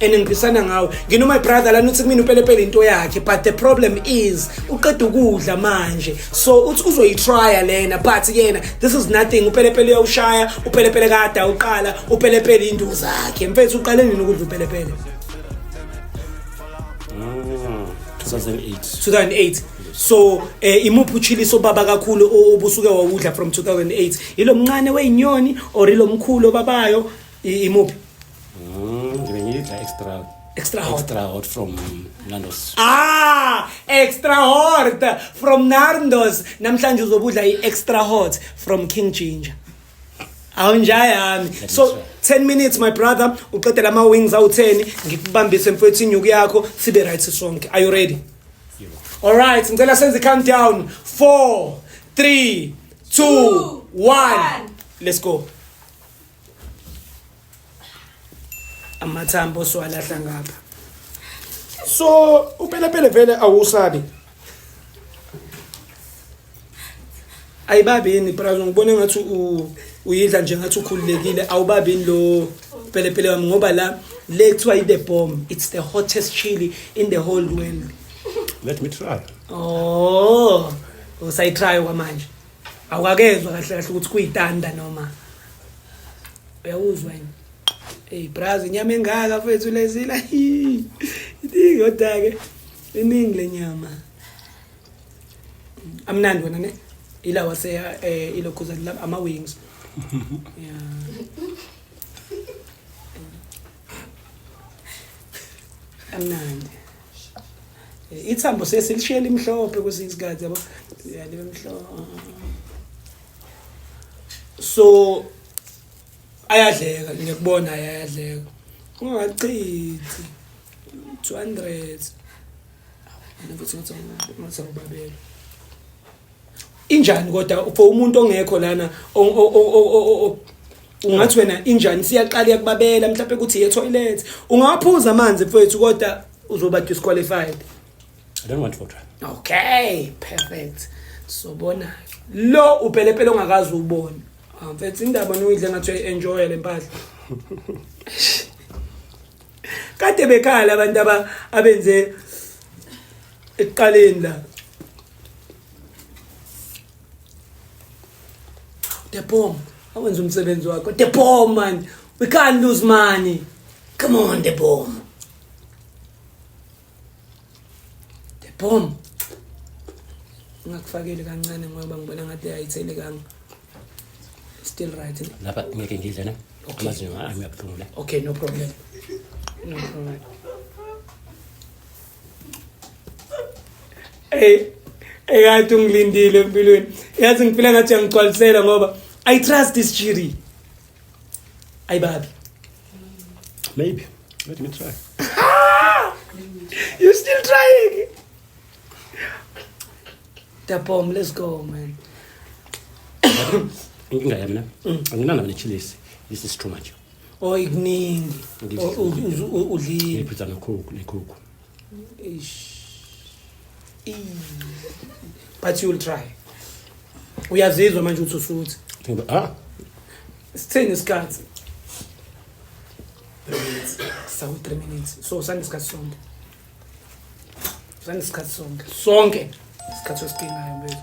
and ngiphisana ngawe ngino my brother lana uthi kumina upelepele into yakhe but the problem is uqeda ukudla manje so uthi uzoyitrya lena but yena this is nothing upelepele uyawushaya upelepele kade awuqala upelepele into zakhe mfethu uqale nini ukudla upelepele 2008 2008 so eh, imuphi uchiliso baba kakhulu obusuke wawudla from 2008 ilo mncane weyinyoni or ilo mkhulu obabayo I- imuphi Mm, ngibe ngidla extra Extra hot. extra hot from Nando's. ah extra hot from narndos namhlanje uzobudla i-extra hot from king ginger awunja yami so 10 minutes my brother uqedela ama-wings awu-10 ngikubambise mfowethu inyuku yakho sibe right sonke are you ready all right ngicela senze i-countdown 4 3 2 1 let's go amathambo siwalahla ngapha so upelepele vele awusabi ayibabi yini brazo ngibona ngathi uyidla nje ngathi ukhululekile awubabi yini lo pelepele wami ngoba la le kuthiwa i-the bomb it's the hottest chili in the whole world let me try oh usayitry kwamanje awukakezwa kahle kahle ukuthi kuyitanda noma uyawuzwa yini Hey braz inyama engaka mfethu lezila. Idingi kodwa ke iningi lenyama. Amnandi wena ne? Ila wase eh ilokhuza lab ama wings. Yeah. Amnandi. ithambo sesilishiye limhlophe kwesinye isikhathi yabo libe mhlophe so ayadleka ngiyakubona ayadleka ungachithi 200 futhi ngathi ngibabele injani kodwa for umuntu ongekho lana ungathi wena injani siyaqala yakubabela mhlawumbe ukuthi ye toilet ungawaphuza amanzi mfowethu kodwa uzoba disqualified i don't want water okay perfect sobona lo upelepele ongakazi ubone ah, mfethu indaba noyidle ngathi enjoy le mpahla kade bekhala abantu abenze ekuqaleni la Depom awenza umsebenzi wakho Depom man we can't lose money come on Depom Depom ngakufakeli kancane ngoba ngibona ngathi ayithele kanga still right lapha ngeke ngidle na amazinyo ami abuhlungu la okay no problem no problem Hey, ekade ungilindile empilweni. Yazi ngifile ngathi uyangigcwalisela ngoba I trust this chiri. Ayi babi. Maybe. Let me try. you still trying? Tapom, let's go man. Inkinga yami na. Anginana nechilisi. This is too much. oyi kuningi Ngidla- O- u- uzu- u- udlile ngiphiza nekhukhu nekhukhu Eish. Ii. but you'll try uyazizwa manje ukuthi usuthi Ngidla- ah sithini isikhathi sawu 3 minutes so sanesikhathi sonke sanesikhathi sonke sonke isikhathi osidingayo mfethu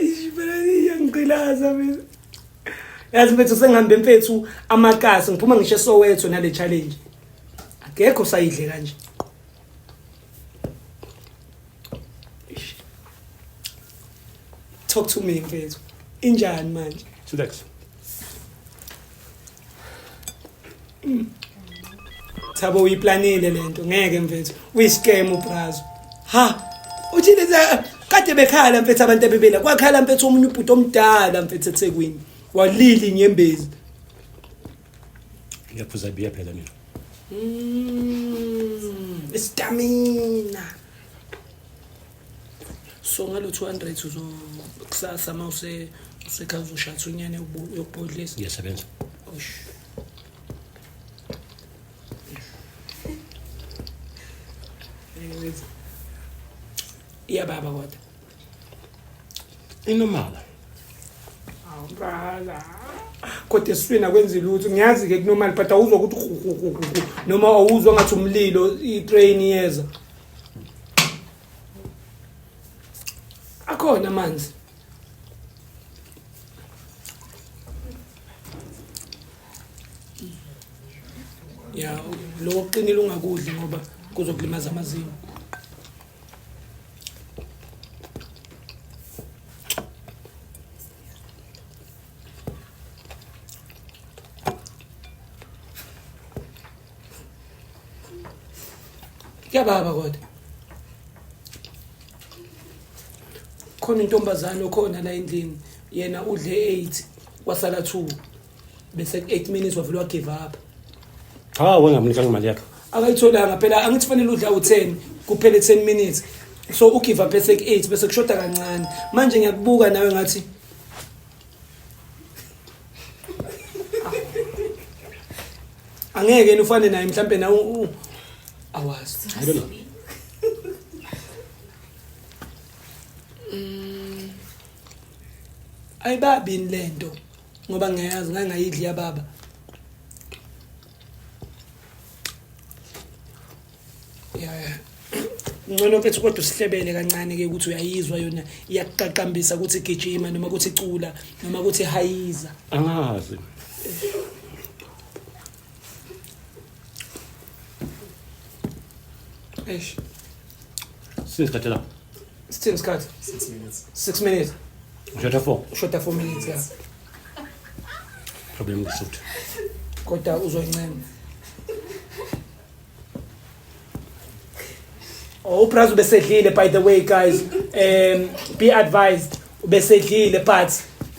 iyangiqilaza mina yazi mfethu sengihambe mfethu amakasi ngiphuma ngisho esowetho nale challenge akekho sayidle kanje talk to me mfethu injani manje Chillax. Thabo uyiplanile lento ngeke mfethu uyiscam ubrazo ha uthi leza kade bekhala mfethu abantu abebela kwakhala mfethu omunye ubhuti omdala mfethu eThekwini walili inyembezi ngiyaphuza biya phela mina mm, istamina so ngalo 200 uzo kusasa uma use usekhaya uzoshatha unyane yokubhodlisa ngiyasebenza osh ya baba kodwa inomala awubala kodwa esifini akwenzi lutho ngiyazi-ke kunomali but awuzwa ukuthi noma awuzwa ngathi umlilo itrain iyeza akhona amanzi ya lokho kuqinile ungakudli ngoba kuzokulimaza amazinyo kuyababa kodwa khona intombazane okhona la endlini yena udle 8 wasala 2 bese 8 minutes wavele wagive up cha wengamnika imali yakhe akayitholanga phela angithi fanele udla u10 kuphele 10 minutes so ugive up bese 8 bese kushoda kancane manje ngiyakubuka nawe ngathi angeke nifane naye mhlambe na awazi i don't know mm. ayibabini lento ngoba ngiyazi ngangayidli yababa ya ya ngcono mfethu kodwa usihlebele kancane ke ukuthi uyayizwa yona iyakuqaqambisa ukuthi gijima noma ukuthi cula noma ukuthi hayiza angazi eish singisikhathi la sithini isikhathi 6 minutes 6 minutes ushatha 4 ushatha 4 minutes ya problem ngisuthu kodwa uzoyincema Oh, uPraz ubesedlile by the way guys um be advised ubesedlile but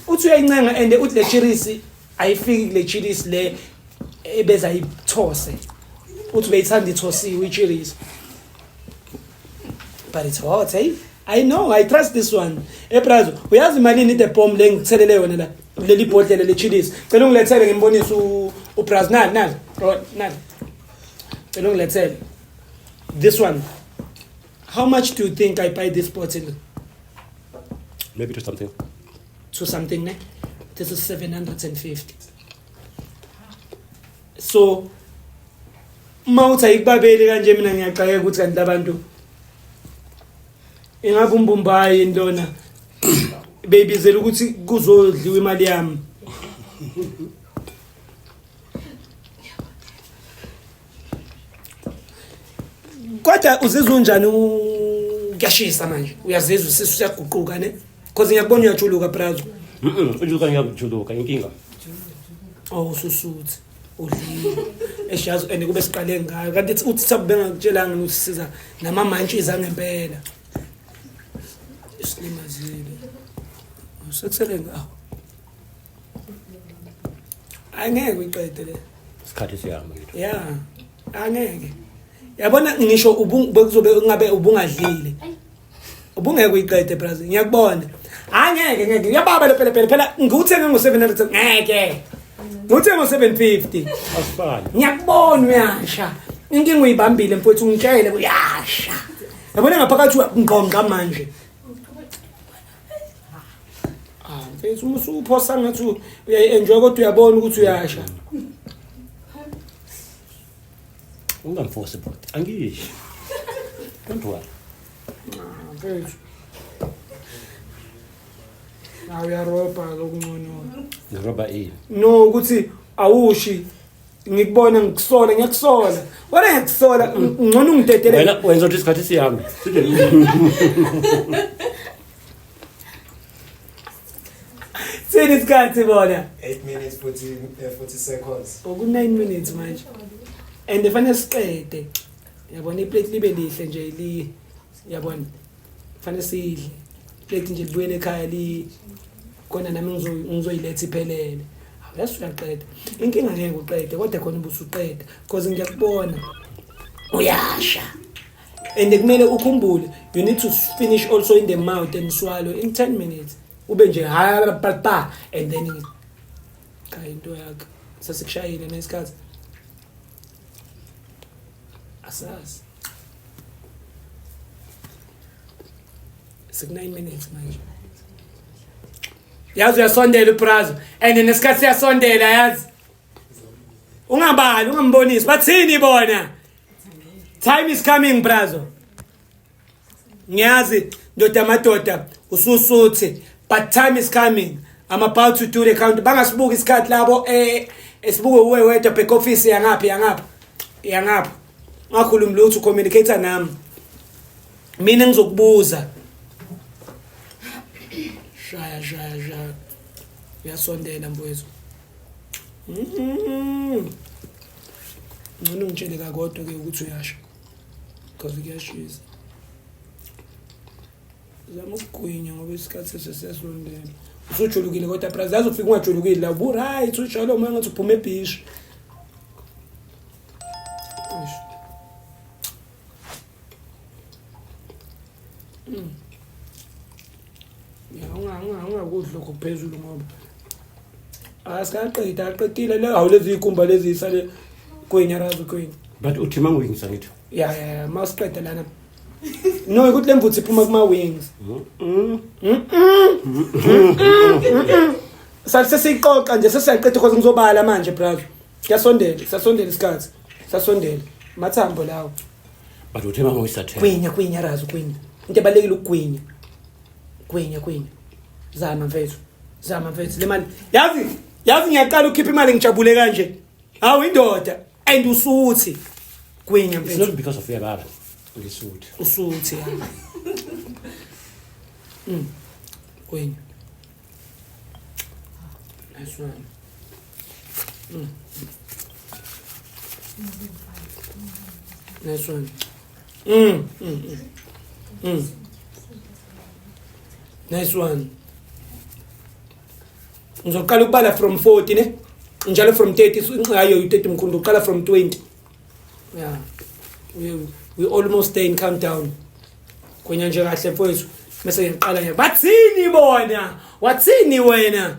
uthi uyayincenga and uthi le chirisi ayifiki kule chirisi le ebeza ithose uthi beyithanda ithosiwe ichirisi but it's hot hey I know I trust this one ePrazo uyazi malini the bomb le ngithelele yona la leli bhodlela le chillis cela ungilethele ngimbonise uPrazo nani nani nani Cela ungilethele. This one. How much do you think I buy this bottle? Maybe to something. To something, ne? This is 750. So uma uthi ayikubabeli kanje mina ngiyaxakeka ukuthi kanti labantu ingabe umbumbayi yini lona beyibizela ukuthi kuzodliwa imali yami kodwa uzizwa unjani kuyashisa manje uyazizwa isisu siyaguquka ne cause ngiyakubona uyajuluka brazo mhm ujuluka ngiyakujuluka inkinga oh ususuthi udlile eshazo and kube siqale ngayo kanti uthi thabu bengakutshelanga ukuthi siza nama mantshi zangempela isilimazile usekusele ngawo angeke uyiqede le isikhathi siyahamba ngitho ya angeke yabona ngisho bekuzobe kungabe ubungadlile ubungeke uyiqede braz ngiyakubona hayi ngeke ngeke ngiyababa le pelepele phela ngiwuthenge ngo-seven hundred ngeke ngiwuthenge ngo-seven fifty asifani ngiyakubona uyasha inkinga uyibambile mfowethu ungitshele uyasha yabona ngaphakathi uyakungqongqa manje Ah, mfethu uma usuphosa ngathi uyayi-enjoy kodwa uyabona ukuthi uyasha. Ungamforce bro. Angisho. Don't worry. Ah, mfethu. Nawe uyaroba lokuncono. Ngiroba ini? No ukuthi awushi ngikubona ngikusola ngiyakusola wena ngiyakusola ngcono ungidedele wena wenza ukuthi isikhathi sihambe sini isikhathi bona 8 minutes 40 40 eh, seconds oku 9 minutes manje and fanele siqede yabona iplate libe lihle nje li yabona fanele sidle plate nje libuyele ekhaya li khona nami ngizoyiletha iphelele yes uyaqeda inkinga ngeke uqede kodwa khona ubusuqeda because ngiyakubona uyasha and kumele ukhumbule you need to finish also in the mouth and swallow in 10 minutes ube nje ha and then cha into yakhe sasikushayile nesikhathi asazi siku-nine minutes manje yazi uyasondela ubrazo and nesikhathi siyasondela yazi ungabali ungambonisi bathini bona time is coming brazo ngiyazi ndoda amadoda ususuthi but time is coming i'm about to do the count bangasibuka isikhathi labo eh esibuke uwe wedwa back office yangaphi yangapha yangapha ngakhulumi lutho communicator nami mina ngizokubuza shaya shaya shaya uyasondela mfowethu mm-hmm. ngcono ngitshele kakodwa ke ukuthi uyasho because kuyashisa zama ukugwinya ngoba isikhathi sesesondela usujulukile kodwa bra zazi ufika ungajulukile la uburight usholo uma ngathi uphuma ebhishi Mm. ya ungakudli lokho phezulu ngoba asikaqedi aqedile le hawu lezi yikhumba lezi yisale kwenya razi kwenya but uthi mangwingisa ngithi ya ya masiqede lana no ukuthi le mvuthu iphuma kuma-wings sesiyixoxa nje sesiyaqeda because ngizobala manje brother siyasondela siyasondela isikhathi siyasondela mathambo lawo but uthe mama uyisathela kwinya kwinya razi kwinya into ebalekile ukugwinya gwinya gwinya zama mfethu zama mfethu le mali yazi yazi ngiyaqala ukhipha imali ngijabule kanje hawu indoda and usuthi gwinya mfethu not because of your baba ngisuthi usuthi mm gwinya nice one Nice one. Mm, mm, mm. Mm. Nice one. Ngizoqala ukubala from 40 ne? Njalo from 30 ngayo u30 mkhulu uqala from 20. Yeah. We we almost stay in countdown. Kwenya nje kahle mfowethu. Mase ngiqala nje. Bathini bona? Wathini wena?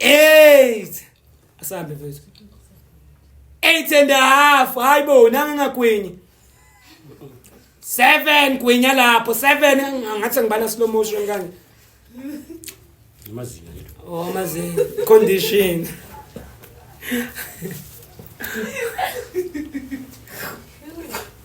eight asambe mfethu eight and a half hayi bo nangingagwinyi seven gwinya lapho seven ngathi ngibala slow motion kanje amazinyo oh amazinyo condition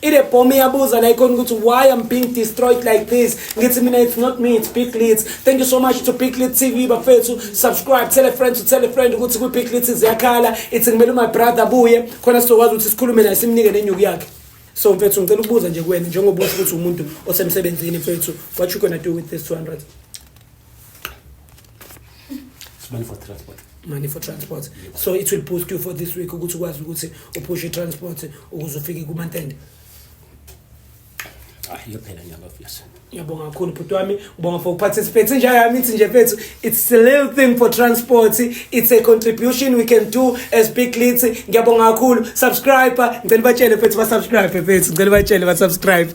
Ile bomb iyabuza la ikhona ukuthi why I'm being destroyed like this. Ngithi mina it's not me it's Big Leads. Thank you so much to Big Leads TV bafethu. Subscribe, tell a friend to tell a friend ukuthi ku Big Leads ziyakhala. It's ngimele my brother buye khona sizokwazi ukuthi sikhulume naye simnike nenyuku yakhe. So mfethu ngicela ukubuza nje kuwena njengoba usho ukuthi umuntu osemsebenzini mfethu what you gonna do with this 200? money for transport money for transport so it will boost you for this week ukuthi ukwazi ukuthi uphushe transport ukuze ufike kumantende ah iyophela nyanga obvious ngiyabonga kakhulu bhuti wami ngibonga for participate nje yami ithi nje mfethu it's a little thing for transport it's a contribution we can do as big leads ngiyabonga kakhulu subscriber ngicela batshele mfethu ba subscribe mfethu ngicela batshele ba subscribe